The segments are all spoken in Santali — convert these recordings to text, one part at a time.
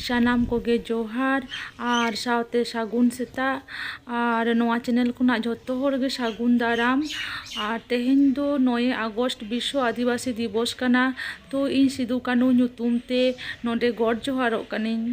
ᱥᱟᱱᱟᱢ ᱠᱚᱜᱮ ᱡᱚᱦᱟᱨ ᱟᱨ ᱥᱟᱶᱛᱮ ᱥᱟᱹᱜᱩᱱ ᱥᱮᱛᱟᱜ ᱟᱨ ᱱᱚᱣᱟ ᱪᱮᱱᱮᱞ ᱠᱷᱚᱱᱟᱜ ᱡᱷᱚᱛᱚ ᱦᱚᱲ ᱜᱮ ᱥᱟᱹᱜᱩᱱ ᱫᱟᱨᱟᱢ ᱟᱨ ᱛᱮᱦᱮᱧ ᱫᱚ ᱱᱚᱭᱮ ᱟᱜᱚᱥᱴ ᱵᱤᱥᱥᱚ ᱟᱹᱫᱤᱵᱟᱹᱥᱤ ᱫᱤᱵᱚᱥ ᱠᱟᱱᱟ ᱛᱚ ᱤᱧ ᱥᱤᱫᱩ ᱠᱟᱹᱱᱩ ᱧᱩᱛᱩᱢ ᱛᱮ ᱱᱚᱰᱮ ᱜᱚᱰ ᱡᱚᱦᱟᱨᱚᱜ ᱠᱟᱹᱱᱟᱹᱧ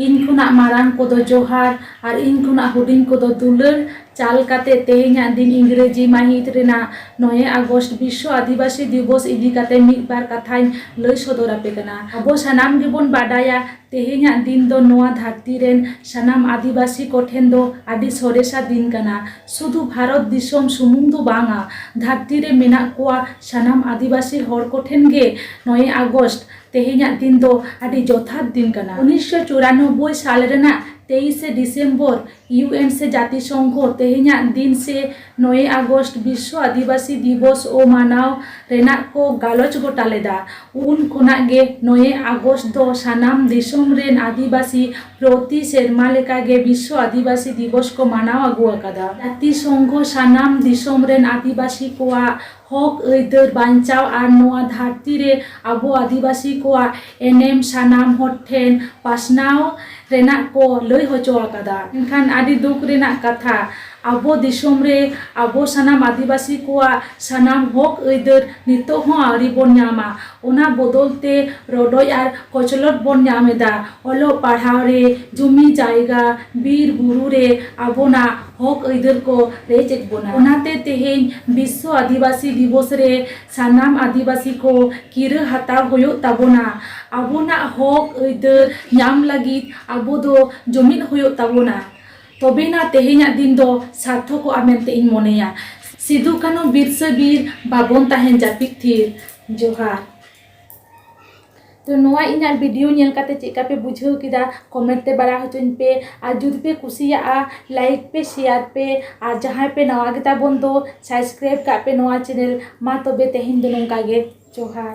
ᱤᱧ ᱠᱷᱚᱱᱟᱜ ᱢᱟᱨᱟᱝ ᱠᱚᱫᱚ ᱡᱚᱦᱟᱨ ᱟᱨ ᱤᱧ ᱠᱷᱚᱱᱟᱜ ᱦᱩᱰᱤᱧ ᱠᱚᱫᱚ ᱫᱩᱞᱟᱹᱲ ᱪᱟᱞ ᱠᱟᱛᱮ ᱛᱮᱦᱮᱧᱟᱜ ᱫᱤᱱ ᱤᱝᱨᱮᱡᱤ ᱢᱟᱹᱦᱤᱛ ᱨᱮᱱᱟᱜ ᱱᱚᱭᱮ ᱟᱜᱚᱥᱴ ᱵᱤᱥᱥᱚ ᱟᱹᱫᱤᱵᱟᱹᱥᱤ ᱫᱤᱵᱚᱥ ᱤᱫᱤ ᱠᱟᱛᱮ ᱢᱤᱫ ᱵᱟᱨ ᱠᱟᱛᱷᱟᱧ ᱞᱟᱹᱭ ᱥᱚᱫᱚᱨ ᱟᱯᱮ ᱠᱟᱱᱟ ᱟᱵᱚ ᱥᱟᱱᱟᱢ ᱜᱮᱵᱚᱱ ᱵᱟᱰᱟᱭᱟ ᱛᱮᱦᱮᱧᱟᱜ ᱫᱤᱱ ᱫᱚ ᱱᱚᱣᱟ ᱫᱷᱟᱹᱨᱛᱤ ᱨᱮᱱ ᱥᱟᱱᱟᱢ ᱟᱹᱫᱤᱵᱟᱹᱥᱤ ᱠᱚ ᱴᱷᱮᱱ ᱫᱚ ᱟᱹᱰᱤ ᱥᱚᱨᱮᱥᱟ ᱫᱤᱱ ᱠᱟᱱᱟ᱾ ᱥᱩᱫᱷᱩ ᱵᱷᱟᱨᱚᱛ ᱫᱤᱥᱚᱢ ᱥᱩᱢᱩᱝ ᱫᱚ ᱵᱟᱝᱼᱟ, ᱫᱷᱟᱹᱨᱛᱤ ᱨᱮ ᱢᱮᱱᱟᱜ ᱠᱚᱣᱟ ᱥᱟᱱᱟᱢ ᱟᱹᱫᱤᱵᱟᱹᱥᱤ ᱦᱚᱲ ᱠᱚ ᱴᱷᱮᱱ ᱜᱮ ᱱᱚᱭᱮ ᱟᱜᱚᱥᱴ, ᱛᱮᱦᱮᱧᱟᱜ ᱫᱤᱱ ᱫᱚ ᱟᱹᱰᱤ ᱡᱚᱛᱷᱟᱛ ᱫᱤᱱ ᱠᱟᱱᱟ᱾ ᱩᱱᱤᱥ ᱥᱚ ᱪᱩᱨᱟᱱᱚᱵᱵᱚᱭ ᱥᱟᱞ ᱨᱮᱱᱟᱜ ᱛᱮᱭᱤᱥᱮ ᱰᱤᱥᱮᱢᱵᱚᱨ, ᱤᱭᱩ ᱮᱱ ᱥᱮ ᱡᱟᱹᱛᱤᱥᱚᱝᱜᱷᱚ ᱛᱮᱦᱮᱧᱟᱜ ᱫᱤᱱ ᱥᱮ ᱱᱚᱭᱮ ᱟᱜᱚᱥᱴ ᱵᱤᱥᱥᱚ ᱟᱹᱫᱤᱵᱟᱹᱥᱤ ᱫᱤᱵᱚᱥ ᱚ ᱢᱟᱱᱟᱣ ᱨᱮᱱᱟᱜ ᱠᱚ ᱜᱟᱞᱚᱪ ᱜᱚᱴᱟ ᱞᱮᱫᱟ᱾ ᱩᱱ ᱠᱷᱚᱱᱟᱜ ᱜᱮ ᱱᱚᱭᱮ ᱟᱜᱚᱥᱴ ᱫᱚ ᱥᱟᱱᱟᱢ ᱫᱤᱥᱚᱢ ᱨᱮᱱ ᱟᱹᱫᱤᱵᱟᱹᱥᱤ ᱯᱨᱚᱛᱤ ᱥᱮᱨᱢᱟ ᱞᱮᱠᱟ ᱜᱮ ᱵᱤᱥᱥᱚ ᱟᱹᱫᱤᱵᱟᱹᱥᱤ ᱫᱤᱵᱚᱥ ᱠᱚ ᱢᱟᱱᱟᱣ ᱟᱹᱜᱩ ᱟᱠᱟᱫᱟ᱾ ᱡᱟᱹᱛᱤᱥᱚᱝᱜᱷᱚ ᱥᱟᱱᱟᱢ ᱫᱤᱥᱚᱢ ᱨᱮᱱ ᱟᱹᱫᱤᱵᱟᱹᱥᱤ ᱠᱚᱣᱟᱜ ᱦᱚᱠ ᱟᱹᱭᱫᱟᱹᱨ ᱵᱟᱧᱪᱟᱣ ᱟᱨ ᱱᱚᱣᱟ ᱫᱷᱟᱹᱨᱛᱤ ᱨᱮ ᱟᱵᱚ ᱟᱹᱫᱤᱵᱟᱹᱥᱤ ᱠᱚᱣᱟᱜ ᱮᱱᱮᱢ ᱥᱟᱱᱟᱢ ᱦᱚᱲ ᱴᱷᱮᱱ ᱯᱟᱥᱱᱟᱣ ᱨᱮᱱᱟᱜ ᱠᱚ ᱞᱟᱹᱭ ᱦᱚᱪᱚ ᱟᱠᱟᱫᱟ᱾ ᱢᱮᱱᱠᱷᱟᱱ ᱟᱹᱰᱤ ᱫᱩᱠ ᱨᱮᱱᱟᱜ ᱠᱟᱛᱷᱟ ᱟᱵᱚ ᱫᱤᱥᱚᱢ ᱨᱮ ᱟᱵᱚ ᱥᱟᱱᱟᱢ ᱟᱹᱫᱤᱵᱟᱹᱥᱤ ᱠᱚᱣᱟᱜ ᱥᱟᱱᱟᱢ ᱦᱚᱠ ᱟᱹᱭᱫᱟᱹᱨ ᱱᱤᱛᱚᱜ ᱦᱚᱸ ᱟᱹᱣᱨᱤ ᱵᱚᱱ ᱧᱟᱢᱟ᱾ ᱚᱱᱟ ᱵᱚᱫᱚᱞ ᱛᱮ ᱨᱚᱰᱚᱡ ᱟᱨ ᱠᱚᱪᱞᱚᱰ ᱵᱚᱱ ᱧᱟᱢ ᱮᱫᱟ᱾ ᱚᱞᱚᱜ ᱯᱟᱲᱦᱟᱣ ᱨᱮ, ᱡᱩᱢᱤ ᱡᱟᱭᱜᱟ, ᱵᱤᱨ ᱵᱩᱨᱩ ᱨᱮ ᱟᱵᱚᱱᱟᱜ᱾ ᱦᱚᱠ ᱟᱹᱭᱫᱟᱹᱨ ᱠᱚ ᱨᱮᱡ ᱮᱫ ᱵᱚᱱᱟ᱾ ᱚᱱᱟᱛᱮ ᱛᱮᱦᱮᱧ ᱵᱤᱥᱥᱚ ᱟᱹᱫᱤᱵᱟᱹᱥᱤ ᱫᱤᱵᱚᱥ ᱨᱮ ᱥᱟᱱᱟᱢ ᱟᱹᱫᱤᱵᱟᱹᱥᱤ ᱠᱚ ᱠᱤᱨᱟᱹ ᱦᱟᱛᱟᱣ ᱦᱳᱭᱳᱜ ᱛᱟᱵᱚᱱᱟ᱾ ᱟᱵᱚᱱᱟᱜ ᱦᱚᱠ ᱟᱹᱭᱫᱟᱹᱨ ᱧᱟᱢ ᱞᱟᱹᱜᱤᱫ ᱟᱵᱚ ᱫᱚ ᱡᱩᱢᱤᱫ ᱦᱳᱭᱳᱜ ᱛᱟᱵᱚᱱᱟ᱾ ᱛᱚᱵᱮᱱᱟ ᱛᱮᱦᱮᱧᱟᱜ ᱫᱤᱱ ᱫᱚ ᱥᱟᱨᱛᱷᱚᱠᱚᱜᱼᱟ ᱢᱮᱱᱛᱮ ᱤᱧ ᱢᱚᱱᱮᱭᱟ᱾ ᱥᱤᱫᱩ ᱠᱟᱹᱱᱦᱩ ᱵᱤᱨᱥᱟᱹ ᱵᱤᱨ ᱵᱟᱵᱚᱱ ᱛᱟᱦᱮᱱ ᱡᱟᱹᱯᱤᱫ ᱛᱷᱤᱨ᱾ ᱡᱚᱦᱟᱨ᱾ ᱛᱚ ᱱᱚᱣᱟ ᱤᱧᱟᱹᱜ ᱵᱷᱤᱰᱤᱭᱳ ᱧᱮᱞ ᱠᱟᱛᱮ ᱪᱮᱫᱞᱮᱠᱟ ᱯᱮ ᱵᱩᱡᱷᱟᱹᱣ ᱠᱮᱫᱟ ᱠᱚᱢᱮᱱᱴ ᱛᱮ ᱵᱟᱲᱟᱭ ᱦᱚᱪᱚᱧ ᱯᱮ ᱟᱨ ᱡᱩᱫᱤ ᱯᱮ ᱠᱩᱥᱤᱭᱟᱜᱼᱟ ᱞᱟᱭᱤᱠ ᱯᱮ ᱥᱮᱭᱟᱨ ᱯᱮ ᱟᱨ ᱡᱟᱦᱟᱸᱭ ᱯᱮ ᱱᱟᱣᱟ ᱜᱮᱛᱟ ᱵᱚᱱ ᱫᱚ ᱥᱟᱵᱥᱠᱨᱟᱭᱤᱵᱽ ᱠᱟᱜ ᱯᱮ ᱱᱚᱣᱟ ᱪᱮᱱᱮᱞ ᱢᱟ ᱛᱚᱵᱮ ᱛᱮᱦᱮᱧ ᱫᱚ ᱱᱚᱝᱠᱟ ᱜᱮ ᱡᱚᱦᱟᱨ